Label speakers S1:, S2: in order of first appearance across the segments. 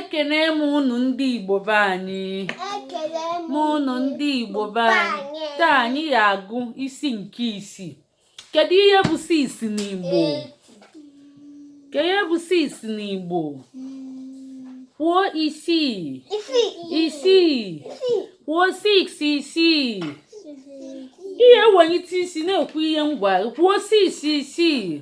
S1: ekene m unu ndị igbo be anyị taa anyị ya-agụ isi nke isii kedu ihe bụ six n'igbo kedu ihe bụ six n'igbo kwuo isii isii kwuo six isii ihe wenite isi na-ekwu ihe ngwa kwuo six isii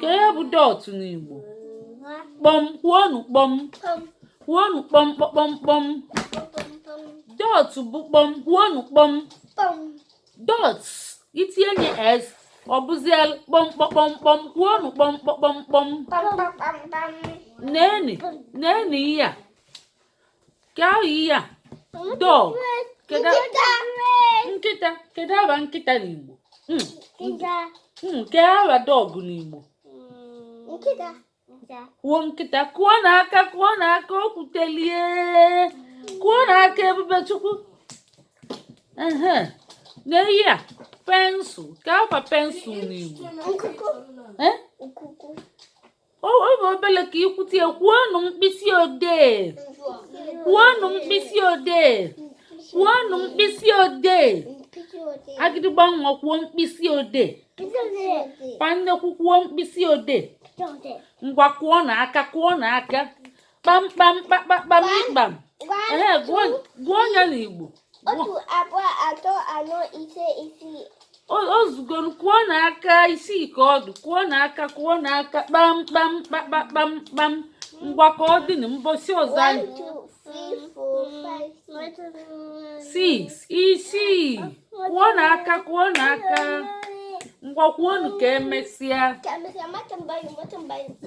S1: ke ihe bụ dot n'igbo kpọm kwuonụ kpọm kwuonụ kpọm kpọm kpọm dot bụ kpọm kwuonụ kpọm dot i tinye s ọ bụzie kpọm kpọm kpọm kwuonụ kpọm kpọm kpọm neenị neenị ihe a ya dog nkịta kedu afa nkịta n'Igbo hmm. hmm, ke afa dog n'Igbo hmm, kwuo nkịta kụọ na aka kụọ na aka o kwutelie kụọ na aka ebubechukwu nee ihe a pencil ke afa pencil n'igbo ọ bụ obele ka i kwute kwuonụ mkpịsị odee kwuonụ mkpịsị odee kwuonụ mkpịsị odee agịdịgba nwa kwuo mkpịsị odee pa nnekwu kwuo mkpịsị odee ngwa kụọ na aka kụọ na aka kpamkpam kpakpakpam ịkpam ehe gụọ ya n'igbo otu abụọ
S2: atọ anọ ise isii o zugo kụọ n'aka isii ka ọ dụ kụọ n'aka
S1: kụọ n'aka kpamkpam kpakpakpam kpam ngwa ka ọ dị na mbọsị ọzọ anyị
S2: six
S1: isii kụọ na aka kụọ na aka ngwa kwuonụ ka emesịa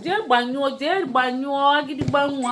S1: jee gbanyụọ jee gbanyụọ agịdịgba nwa